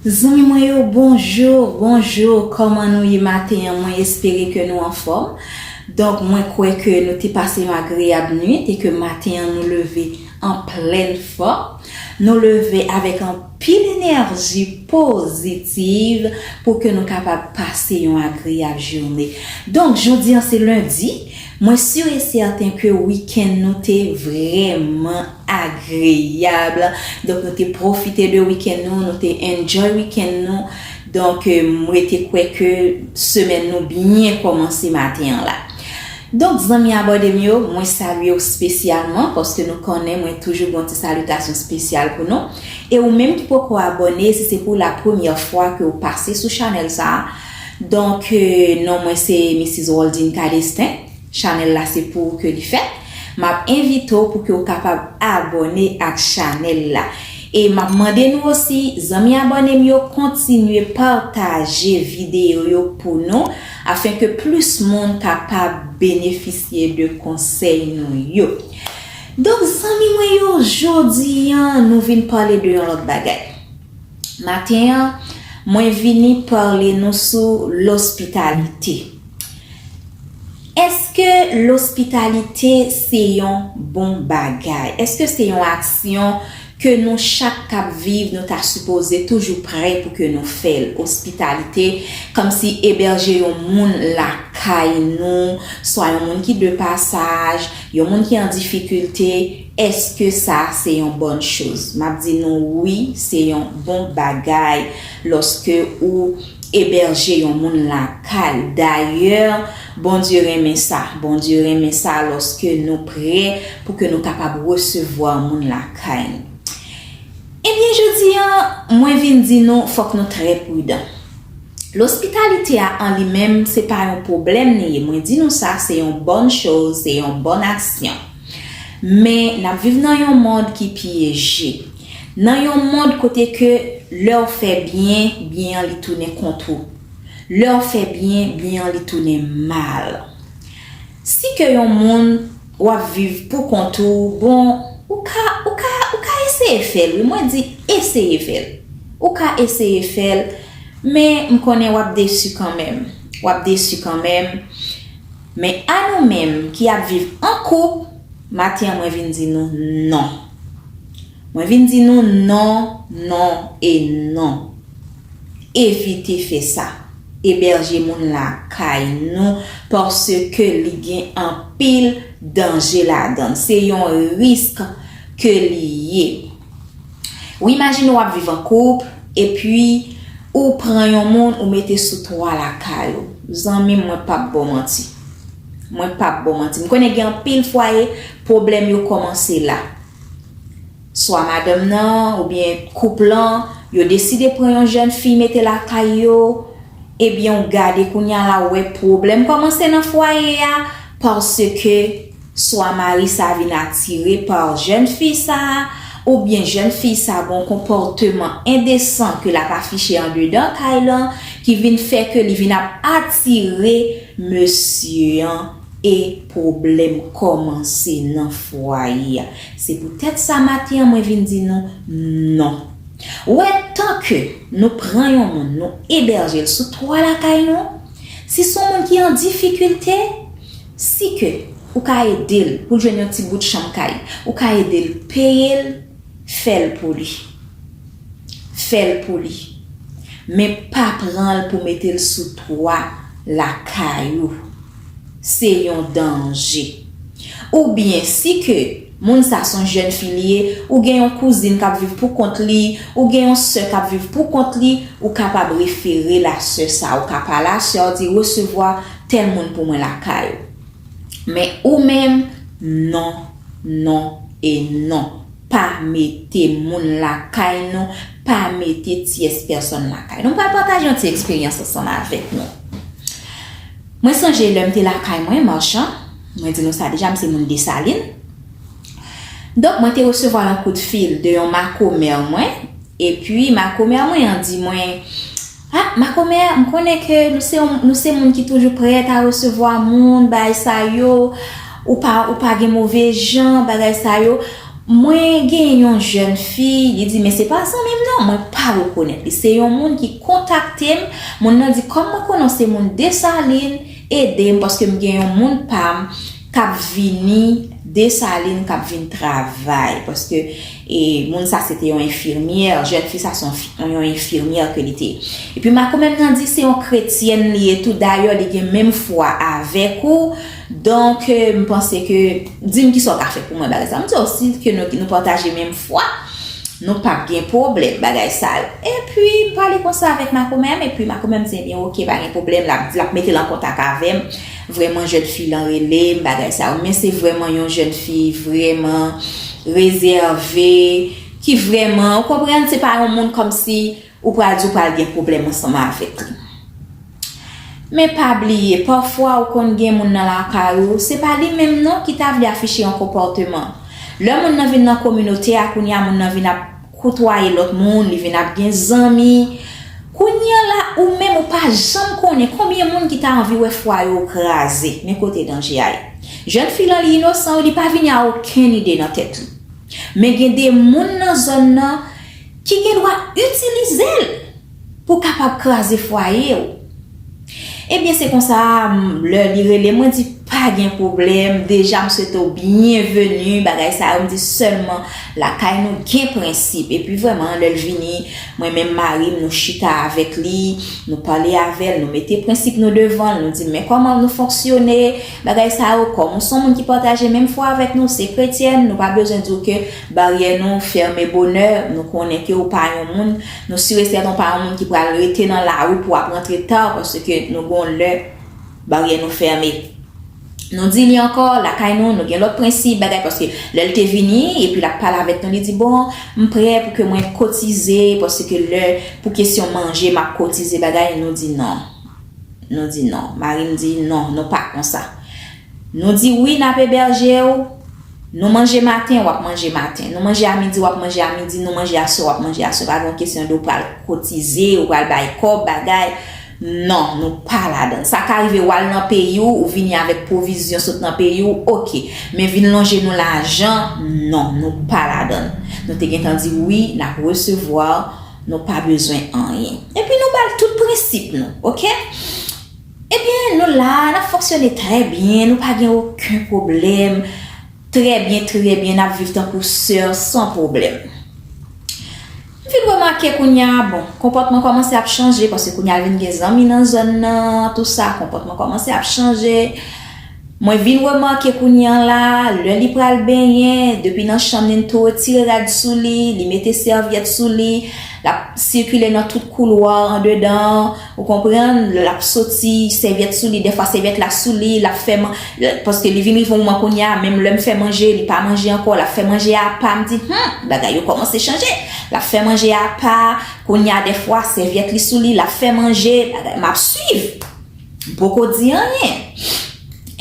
Zanmi mwen yo bonjour bonjour kòman nou ye maten an mwen espere ke nou anfòm donk mwen kwè ke nou te pase yon agreyab nwit e ke maten an nou leve an plèn fòm nou leve avèk anpil enèji pozitiv pou ke nou kapab pase yon agreyab joune donk jodi an se lundi Mwen sur et certain ke week-end nou te vrèman agreyab, donk nou te profite de week-end nou, nou te enjoy week-end nou, donk m rete kwè ke semèn nou byen kòmanse maten an la. Donk zanmi abòne m yo, mwen salye w spesyalman, paske nou konnen mwen toujou gen yon ti salitasyon spesyal pou nou, e ou menm ki poko abòne, si se pou la premyè fwa ke w pase sou chanèl sa a, Donk non mwen se Missis Roldine Cadestin, chanèl la se pou ou ke li fèt. Map envite w pou ke w kapab abòne ak chanèl la. E map mande nou osi, zanmi abòne m yo kontinye pataje videyo yo pou nou afin ke plis moun kapab benefisye de konsèy nou yo. Donk zanmi mwen yo, jodi an nou vin pale de yon lòt bagay. Maten an, mwen vini parle nou sou lospitalite. Eske lospitalite se yon bon bagay? Eske se yon aksyon ke nou chak k ap viv nou ta sipoze toujou prè pou ke nou fè l? Ospitalite, kòmsi eberje yon moun lakay nou, swa yon moun ki de pasaj, yon moun ki an difikilte, Eske sa se yon bòn choz? M ap di nou wi, se yon bon bagay lòske ou ebèje yon moun lakay ou. Dayè, Bondye renmen sa. Bondye renmen sa lòske nou prè pou ke nou kapab resevwa moun lakay nou. Ebyen, jodi a, mwen vin di nou fòk nou trè pridan. Lospitalite a an li menm, se pa yon pwoblèm li ye. Mwen di nou sa, se yon bòn choz, se yon bòn aksyon. Men, n ap viv nan yon mond ki pyeje. Nan yon mond kote ke lè w fè byen, byen an li tounen kont ou. Lè w fè byen, byen an li tounen mal. Si ke yon moun, w ap viv pou kont ou, bon, ou ka, ou ka, ou ka eseye fè l wi, mwen di eseye fè l. Ou ka eseye fè l, men m konnen w ap desu kanmenm. W ap desu kanmenm. Men a nou menm ki ap viv an koup, maten an mwen vin di nou non. Mwen vin di nou non, non e non. Evite fè sa. Ebèje moun lakay nou paske li gen anpil danje ladan l. Se yon risk ke li ye. Ou imajine wap viv an koup epi ou pran yon moun ou mete sou twa lakay ou zanmim mwen pap baw manti mwen pap baw manti m konnen gen anpil fwaye pwoblèm yo kòmanse la swa madanm nan oubyen koup lan yo deside pran yon jèn fi mete lakay yo ebyenw gade kounya la wè pwoblèm kòmanse nan fwaye a paske Swa mari sa vin atire pa jèn fi sa a, oubyen jèn fi sa gon konpòteman endesan ke l ap afiche andedan kay lan ki vin fè ke li vin ap atire mesye an e pwoblèm kòmanse nan fwaye a. Se pou tèt sa maten an mwen vin di nou non. Wè tan ke nou pran yon moun nou ebèje l sou twa lakay nou, si s on moun ki an difikilte, Si ke ou ka ede l pou l jwenn yon ti bout chanm kay, ou ka ede l peye l, fè l pou li. Fè l pou li. Men pa pran l pou mete l sou twa lakay ou. Se yon danje. Oubyen si ke. Moun sa son jèn fi li ye, ou gen yon kouzin kap viv pou kont li, ou gen yon sè kap viv pou kont li, ou kapab refere la sè sa, ou ka pale a sè a ou di resevwa tèl moun pou mwen lakay ou. Men ou menm non, non e non, pa mete moun lakay nou, pa mete tyès pèsòn lakay nou. M pral pataje yon ti eksperyans ansanm avèk nou. Mwen sonje lèm te lakay mwen, Marchand. Mwen di nou sa deja, m se moun Desalin. Donk mwen te resevwa yon kout fil de yon makomè mwen, epi makomè mwen an di mwen, A, makomè, m konnen ke nou se moun ki toujou prèt a resevwa moun, bagay sa yo, ou pa gen move jan, bagay sa yo. Mwen genyen yon jèn fi, li di, men se pa zanmi m non, mwen pa rekonèt li. Se yon moun ki kontakte m, moun nan di, kòm mwen konnen w se moun Desalin, Edem paske m gen yon moun pam kap vini Dessalines kap vin travay paske e moun sa se te yon enfirmyè jèn fi sa son yon enfirmyè ke li te epi makomè m nan di se yon kretyèn li ye tou dayè li gen menm fwa avèk ou donk m panse ke Dim kisa w ka fè pou mwen bagay sa. M di w si ke nou pataje menm fwa, nou pa p gen pwoblèm bagay sa yo. Epi m pale konsa avèk makomè an, epi makomè an di ebyen ok pa gen pwoblèm, l ap mete l an kontak avè m. Vrèman jèn fi lan rele m bagay sa yo. Men se vrèman yon jèn fi vrèman rezève, ki vrèman, ou konprann se pa yon moun kòmsi. Ou pral di w pral gen pwoblèm ansanm avèk li. Men pa bliye, pafwa ou konn gen moun nan lakay ou, se pa li menm non ki ta vle afiche yon konpòteman. Lè moun nan vin nan kominote a, kounye a moun nan vin ap koutwaye lòt moun, li vin ap gen zanmi. Kounye a la, ou menm ou pa janm konnen konbyen moun ki ta anvi wè fwaye w kraze. Men kote danje a ye. Jèn fi lan li inosan wi, li pa vini a okenn ide nan tèt li. Men gen de moun nan zòn nan, Ki gen dwa itilize l pou kapab kraze fwaye w. Ebyen se konsa lè li rele m mwen di pa gen pwoblèm deja m swete w byenveni bagay sa yo m di sèlman lakay nou gen prensip epi vrèman lè l vini mwen menm mari m nou chita avèk li nou pale avè l nou mete prensip nou devan l nou di l men kòman nou fonksyone Bagay sa yo kòm ou son moun ki pataje menm fwa avèk nou, se kretyèn, nou pa bezwen diw ke baryè nou fèmen bonè, nou konnen ke ou pa yon moun, nou sur et certain ou pa yon moun ki pral rete nan lari pou wap rantre ta paske nou gon lè baryè nou fèmen. Nou di li ankò, lakay nou, nou gen lòt prensip, bagay paske lèl te vini epi lap pale avèk nou li di bon m prè pou ke mwen kotize paske lè pou kesyon manje map kotize bagay nou di non. Nou di non. Mari m di, Non, nou pa konsa. Nou di wi n ap ebèje w, nou manje maten, w ap manje maten. Nou manje a midi, w ap manje a midi, nou manje aswè, w ap manje aswè. Pa gen yon kesyon de w pral kotize, ou pral bay kòb, bagay. Non, nou pa ladan. Sa ka rive w al nan peyi w, ou vini avèk pwovizyon sot nan peyi w, oke. Men vin lonje nou lajan, non, nou pa ladan. Nou te gentan di wi, n ap resevwa w. Nou pa bezwen anyen. Epi nou bal tout prensip nou. Ok? Ebyen nou la, nap fonksyone trè byen, nou pa gen oken pwoblèm. Trè byen, trè byen, nap viv tankou sè san pwoblèm. M vin remake kounya, bon, konpòtman kòmanse ap chanje, paske kounya vin gen zanmi nan zòn nan, tout sa, konpòtman kòmanse ap chanje. Mwen vin remake kounye an la, lè li pral benyen, depi nan chanm li n tou retire rad sou li, li mete sèvyèt sou li, l ap sikile nan tout koulwa andedan an, ou konprann, lè l ap soti, sèvyèt sou li, dèfwa sèvyèt la sou li, l ap fè man, paske li vin rive yon moman kounye a, menm lè m fè manje, li pa manje ankò, l ap fè manje a apa, m di, hum! bagay yo kòmanse chanje, l ap fè manje a apa, kounye a dèfwa sèvyèt li sou li, l ap fè manje, bagay, m ap swiv. poko di anyen.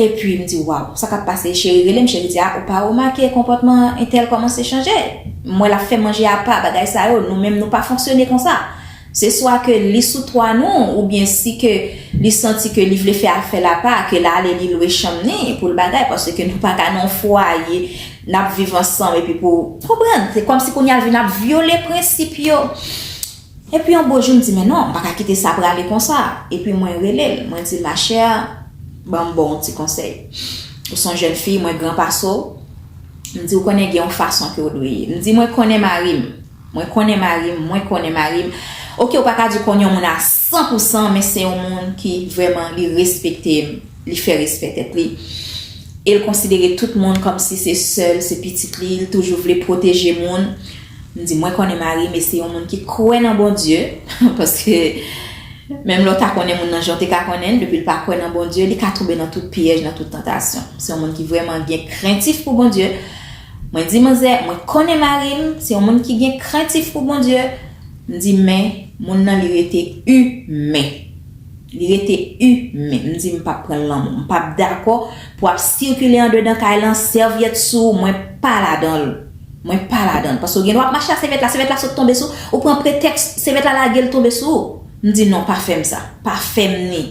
Epi m di waw, sa k ap pase? Cheri rele m, cheri di a ou pa remake konpòtman entèl kòmanse chanje? M wè l ap fè manje apa, bagay sa yo, nou menm nou pa fonksyone konsa. Se swa ke li sou twa nou oubyen si ke li santi ke li vle fè afè l apa, ke l ale li lwe chanm ni pou l bagay paske nou pa ka nan yon fwaye n ap viv ansanm epi pou, konprann? Se kòmsi kounye a l vin ap vyole prensip yo. Epi yon bo jou m di men non, m pa ka kite sa prale konsa. Epi mwen rele l, mwen di l ma chère, ban m ba w yon ti konsèy. Ou son jèn fi, mwen gran pase w, m di ou konnen gen yon fason ke w dwe ye. M di mwen konnen mari m, mwen konnen mari m, mwen konnen mari m. Oke ou pa ka di ou konn yon moun a san pou san men se yon moun ki vrèman li respekte m, li fè respè tèt li. E l konsidere tout moun kòm si se sè l, se pitit li, li toujou vle pwoteje moun. M di mwen konnen marim e se yon moun ki kwè nan Bondye paske menm lè w ta konnen moun nan jan w te ka konnen l depi l pa kwè nan Bondye li ka tonbe nan tout pyèj nan tout tantasyon se yon moun ki vrèman gen krentif pou Bondye mwen di manzè mwen konnen marim se yon moun ki gen krentif pou Bondye m di men moun nan li rete imen. Li rete u menm. M di m pap pranl lanmou. M pap dakò pou ap sikile andedan kay lan sèvyèt sou ou mwen pa ladanl. Mwen pa ladanl. Paske ou gen dwa ap mache a sèvyèt la, sèvyèt la sot tonbe sou ou pran pretèks sèvyèt la lagel tonbe sou ou. M di non pa fèm sa. Pa fèm ni.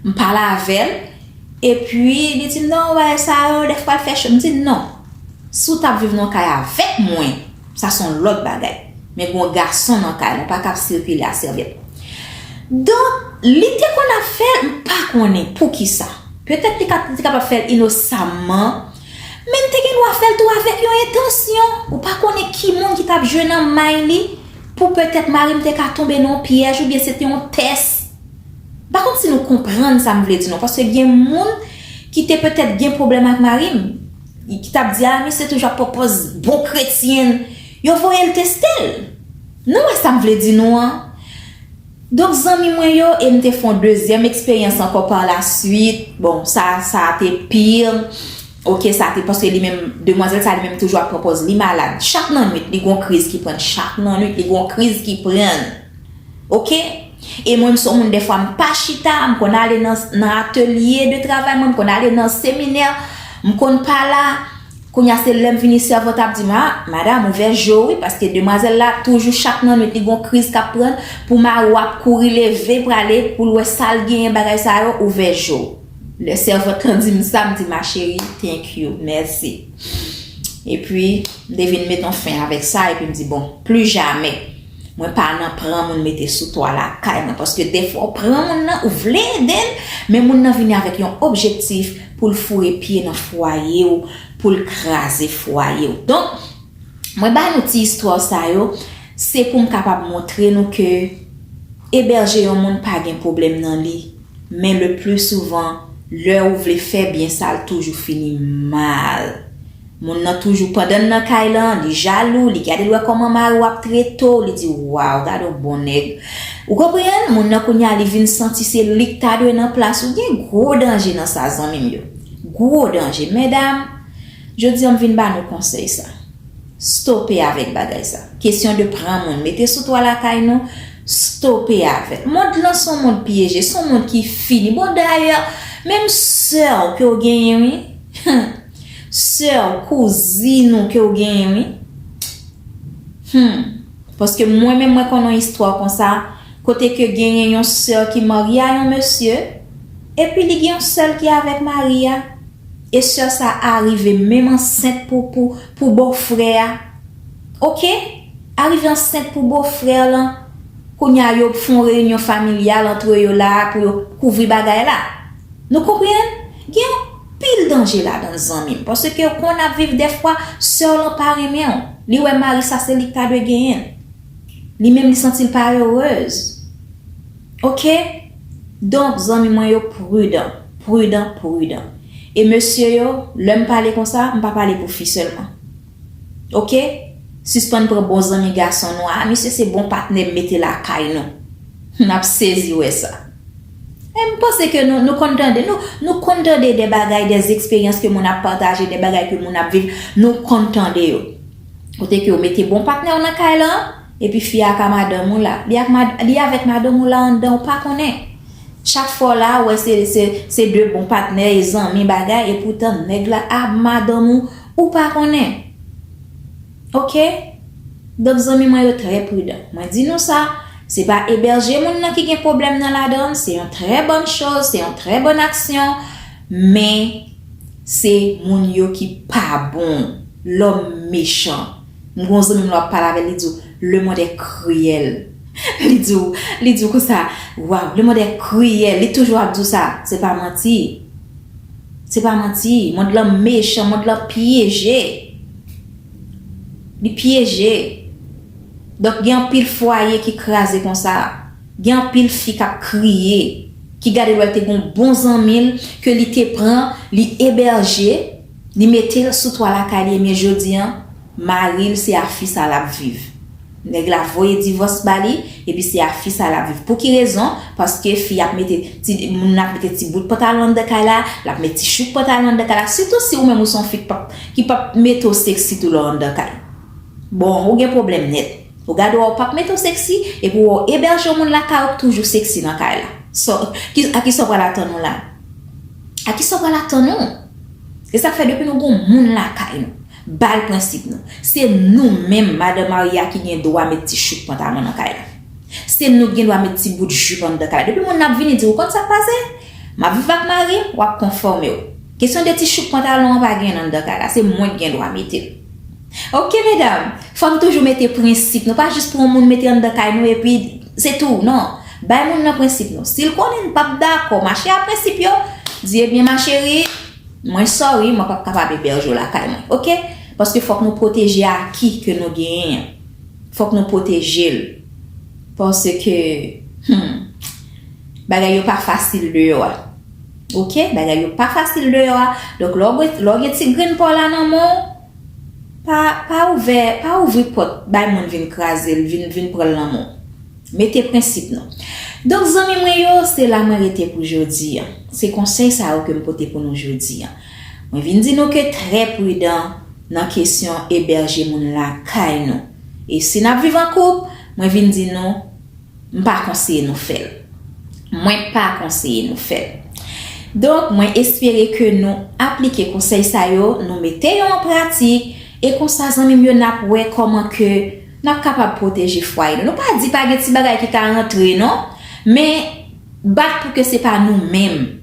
M pale avèl epi li di m non bagay sa yo dèfwa l fè cho. M di non. Si w tap viv nan yon kay avèk mwen. Sa son lòt bagay. Men gon gason nan kay la ou pa ka ap sirkile a sèvyèt. Donk li te konn ap fèl m pa konnen poukisa. Petèt li te kapab fèl inosamman. Men li te gen dwa fèl tou avèk yon entansyon. Ou pa konnen ki moun ki tap jwe nan may li. Pou petèt mari m te ka tonbe nan yon pyèj oubyen se te yon tès. M pa konn si nou konprann sa m vle di non. Paske gen moun ki te petèt gen pwoblèm ak mari m. Ki tap di ah misye toujou ap pran pòz bon kretyen yo voyel testel nou wè sam vle di nou an donk zanmi mwen yo em te fon dezyèm eksperyans ankò par la swit bon sa sa te pir ok sa te paske li menm demwazèl sa li menm toujou ap pran pòz li malad chak nan nwit li gon kriz ki prann chak nan nwit li gon kriz ki prann. Ok e mwen m son moun dèfwa m pa chita m konn ale nan atelye de travay mwen m konn ale nan seminè m konn pa la kounya se lèm vini sèvant ap di m a madam ouvè je w wi paske demwazèl la toujou chak nan nwit li gon kriz kap pran l pou mari w ap kouri leve prale pou l wè sal genyen bagay sa yo ouvè je w lè sèvant lan di m sa m di ma cheri thank you mèsi epi m te vin met on fen avèk sa epi m di bon plijamè. Mwen pa nan pran moun mete sou twa lakay mwen paske defwa ou pran moun nan ou vle ede l men moun nan vini avèk yon objektif pou l foure pye nan fwaye w pou l kraze fwaye w donk mwen ba nou ti istwa sa yo se pou m kapab montre nou ke ebèje yon moun pa gen pwoblèm nan li men le pli souvan lè ou vle fè byen sa l toujou fini mal. Moun nan toujou pandann nan kay lan li jalou li gadel wè kòman mariw ap tretew li di waw gadon bon nèg ou konprann moun nan kounya li vin santi se lik ta dwe nan plas ou gen gwo danje nan sa zanmim yo gwo danje medam jodi an m vin ba nou konsèy sa stope avèk bagay sa kesyon de pran moun mete sou twa lakay nou stope avèl mond lan son mond pyeje son mond ki fini bon dayè menm sèw kew genyen wi humm. Soeur kouzin ou ke ou genyen wi. Humm paske mwen menm mwen konn yon istwa konsa kote ke genyen yon soeur ki marye a yon mesye epi li gen yon sèl ki avèk mari a e soeur sa arive menm ansent pou pou pou bòfrè a ok arive ansent pou bòfrè lan kounya yo fon reyinyon familyal antre yo la pou yo kouvri bagay la nou konprann gen yon Pil danje ladanl zanmim paskew konn ap viv dèfwa sèw lan pa renmenw li wè mari sa se lik ta dwe genyenl li menm li santil pa erez ok donk zanmi mwen yo prudan prudan prudan e mesye yo lèm pale konsa mpa pale pou fi sèlman Ok sispann pran bon zanmi gason nou ah misye se bon patnèm mete lakay nou nap sezi wè sa eh m panse ke nou nou konn tande nou nou konn tande de bagay de zexperyans ke moun ap pataje de bagay ke moun ap viv nou konn tande yo kote ke ou mete bon patnè w nan kay lan epi fi a ak a madanm ou la li ak ma li avèk madanm ou la anndan ou pa konnen chak fwa w la ou wè se se se de bon patnè e zanmi bagay epoutan nèg la ah madanm ou. Ou pa konnen. Ok. Donk zanmi mwen yo trè pridan. Mwen di nou sa, se pa eberje moun nan ki gen pwoblèm nan ladann, se yon trè bòn choz, se yon trè bòn aksyon, men se moun yo ki pa bon. Lòm mechan. M gon zanmi m lè wap pale avè l li di w, le mond è kriyèl. Li di w, li di w konsa, waw, le mond è kriyèl. Li toujou ap di w sa. Se pa manti. Se pa manti, mond lan mechan, mond lan pyeje. Li pyeje. Donk gen anpil fwaye ki kraze konsa. Gen anpil fi k ap kriye, ki gade lwa l te gen yon bon zanmi l ke li te pran, li ebèje, li mete l sou twa lakay li ebyen jodi an, Maril se a fi sa lap viv. Neg la voye divos ba li epi se a fi sa lap viv. Pouki rezon? Paske fi ap mete ti moun nan ap mete ti bout pantalon anndan kay la, lap met ti chouk pantalon anndan kay la, sitou si ou menm ou se yon fi k pap ki pap mete w seksi tou lè w anndan kay. Bon, ou gen pwoblèm nèt. Ou gade wè ou pap mete w seksi epi wè w ebèje yon moun lakay ou k toujou seksi nan kay la. Sa w ki a kisa w pral atann ou la? A kisa w pral atann ou? Se sak fè depi nou gon moun lakay nou, Bal prensip nou. Se nou menm madan marye a ki gen dwa met ti chouk pantalon nan kay la. Se nou ki gen dwa met ti bout jup anndan kay la. Depi moun nan ap vini di ou konn sa k pase? M ap viv ak mari m, w ap konfòme w. Kesyon de ti chouk pantalon an pa gen anndan kay la. Se mwen ki gen dwa mete l. Ok medam! Fò n toujou mete prensip nou. Pa jis pran moun mete anndan kay nou epi se tou. Non. Bay moun nan prensip nou. Si l konnen n p ap dakò mache a prensip yo, di ebyen ma cheri, Mwen sorry mwen pap kapab eberge w lakay mwen ok paske fok nou proteje aki ke nou genyen an fok nou proteje l paske humm bagay yo pa fasil deyo a ok bagay yo pa fasil deyo a donk lè w gen ti grenn pa w la nan men w pa ouvè pa ouvri pot bay moun vin kraze l vin pran l nan men w. Mete prensip nou. Donk zanmi mwen yo, se la mwen rete pou jodi an. Se konsèy sa yo ke m pote pou nou jodi an. Mwen vin di nou ke trè pridan nan kesyon ebèje moun lakay nou. E si n ap viv an koup, mwen vin di nou, m pa konseye nou fè l. Mwen pa konseye nou fè l. Donk mwen espere ke nou aplike konsèy sa yo, nou mete yo an pratik, e konsa zanmi m yo n ap wè kòman ke Nap kapab pwoteje fwaye nou. Nou pa di pa gen ti bagay ki ka rantre non. Men bat pou ke se pa nou menm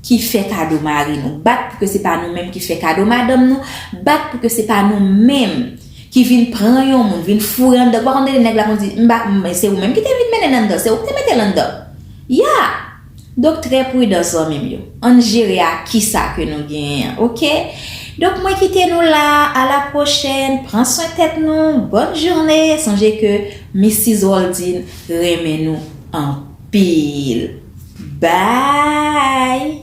ki fè kado mari nou. Bat pou ke se pa nou menm ki fè kado madanm nou. Bat pou ke se pa nou menm ki vin pran yon moun, vin foure anndan. Ou pa konn tande nèg la konn di, m pa, se ou menm ki te vin mennen l anndan, se ou ki te mete l anndan. Ya! Donk trè prudan zanmim yo. Ann jere a kisa ke nou genyen an ok. Donk mwen kite nou la a la prochèn pran swen tèt nou bòn journe sonje ke Mistis Roldine renmen nou anpil bby.